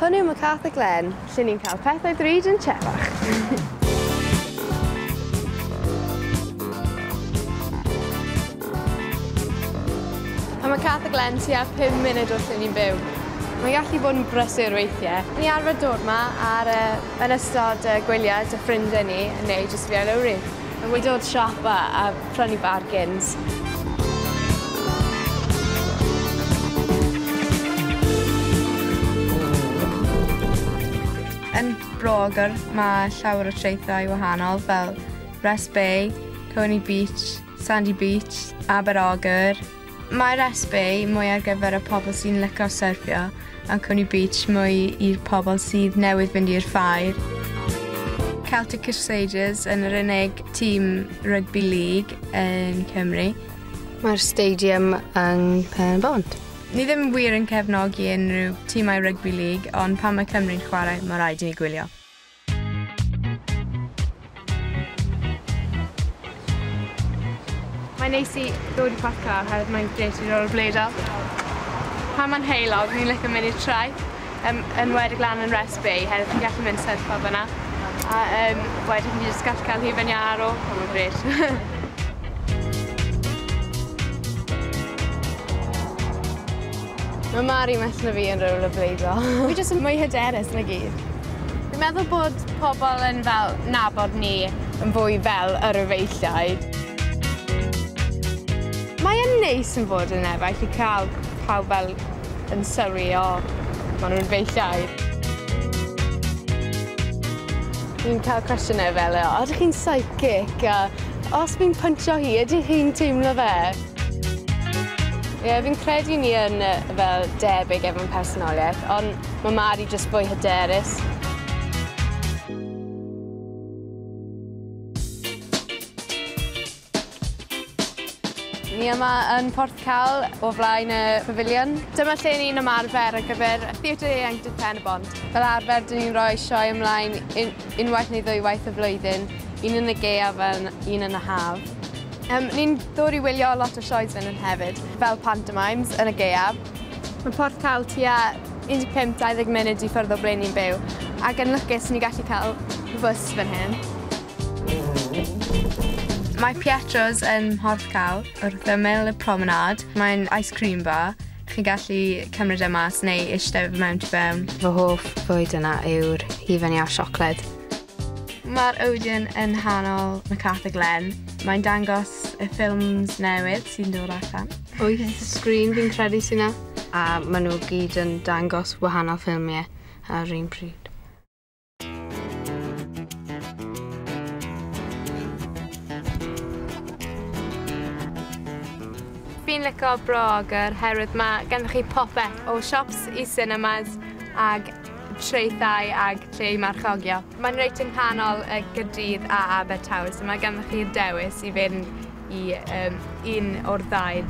Hwn yw MacArthur Glen, lle ni'n cael pethau bryd yn trefach. mae Cath y Glen tua 5 munud wrth lle ni'n byw. Mae'n gallu bod yn brysur weithiau. Ni arfer dod yma ar, uh, yn ystod uh, gwyliau dy ffrindiau ni neu jyst fi ar lowri. Mae wedi dod siapa a prynu bargains. Yn Bro-ogr mae llawer o traethau wahanol fel Rest Bay, Coney Beach, Sandy Beach, Aber-ogr, Mae'r SB mwy ar gyfer y pobl sy'n lico syrffio a Coney Beach mwy i'r pobl sydd newydd fynd i'r ffair. Celtic Crusaders yn yr unig tîm rygbi lig yn Cymru. Mae'r stadium yng Nghanbont. Ni ddim wir yn cefnogi unrhyw tîmau rygbi lig, ond pan mae Cymru'n chwarae, mae rhaid i ni gwylio. Mae'n neis i ddod i parc car oherwydd mae'n grêt i rollerbladeio. Pan mae'n heulog, ni'n licio mynd i'r traeth, yn enwedig lan yn Rest Bay, oherwydd chi'n gallu mynd syrffo fyna. A um, wedyn chi'n just gallu cael hufen iâ ar ôl, mae'n grêt. Mae Mari well na fi yn rollerbladeio. Fi jyst yn mwy hyderus na gyd. Fi'n meddwl bod pobl yn fel nabod ni yn fwy fel yr efeilliau. Mae yn neis yn fod yn efaill i cael pawb fel yn sylwi o maen nhw'n efeilliau. Fi'n cael cwestiynau fel o ydych chi'n psychic a os fi'n pwntio hi ydych chi'n teimlo fe? Ie, fi'n credu ni yn fel debyg efo'n personoliaeth, ond mae Mari jyst fwy hyderus. Ni yma yn Porth Cal o flaen y pafiliwn. Dyma lle ni'n ymarfer ar gyfer Theatr Eang Dydd Pen y Bont. Fel arfer, dyn ni'n rhoi sioe ymlaen unwaith neu ddwywaith y flwyddyn, un yn y gaeaf a un yn y haf. Yym, ni'n dod i wylio lot o sioes fan hyn hefyd, fel pantomimes yn y gaeaf. Mae Porth Cawl tua 15-20 munud i ffwrdd o ble ni'n byw, ac yn lwcus ni'n gallu cael bws fan hyn. Mae Pietro's yn Mhorth Cawl, wrth ymyl y promenade. Mae'n ice cream bar, chi'n gallu cymryd e mas neu eistedd mewn tu fewn. Fy hoff fwyd yna yw'r hufen iâ siocled. Mae'r Odeon yn nghanol McArthur Glen. Mae'n dangos y ffilms newydd sy'n dod allan. Wyth sgrin fi'n credu sy'n na. A maen nhw gyd yn dangos wahanol ffilmiau ar yr un pryd. Fi'n lico Bro Ogwr herwydd mae ganddo chi popeth o siops i cinemas ag traethau ag lle i marchogio. Mae'n reit yn nghanol y Gyrdydd a Abertawe so mae ganddoch chi'r dewis i fynd i um, un o'r ddau.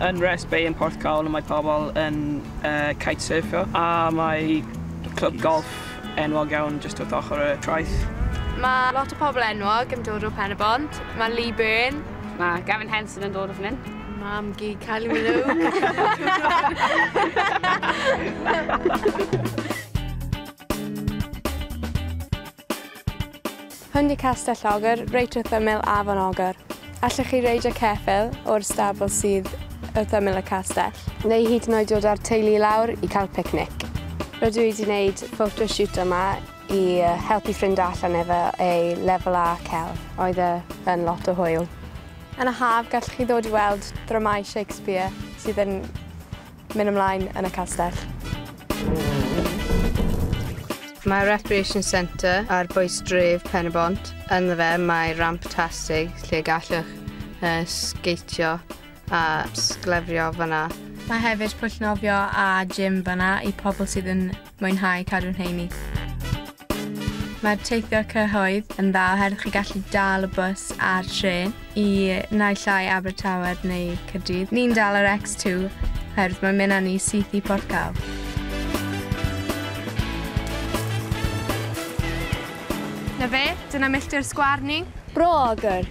Yn Rest Bay yn Porthcawl mae pobl yn uh, kitesurfio a mae clwb golf enwog iawn jyst wrth ochr y traeth. Mae lot o pobl enwog yn dod o Pen-y-bont. Mae Lee Byrne. Mae Gavin Henson yn dod o fan hyn. Mam-gu Kylie Minogue. Hwn i Castell Ogr, reit wrth ymyl Afon Ogr. Allwch chi reidio ceffyl o'r stabl sydd wrth ymyl y castell. Neu hyd yn oed dod â'r teulu i lawr i cael picnic. Rydw i wedi gwneud photoshoot yma i helpu ffrind allan efo ei lefel A celf. Oedd e yn lot o hwyl. Yn y haf, gallwch chi ddod i weld dramâu Shakespeare sydd yn mynd ymlaen yn y castell. Mae Recreation Centre ar bwys dref Pen-y-bont. Ynddo fe mae ramp tastig lle gallwch uh, sgeitio a sglefrio fyna. Mae hefyd pwll nofio a gym fyna i pobl sydd yn mwynhau cadw'n heini. Mae'r teithio cyhoedd yn dda oherwydd chi gallu dal y bws a'r tren i naill ai Abertawe neu Caerdydd. Ni'n dal yr X2 oherwydd mae'n mynd â ni syth i Porthcawl. Na fe, dyna milltir sgwâr ni. Bro agor!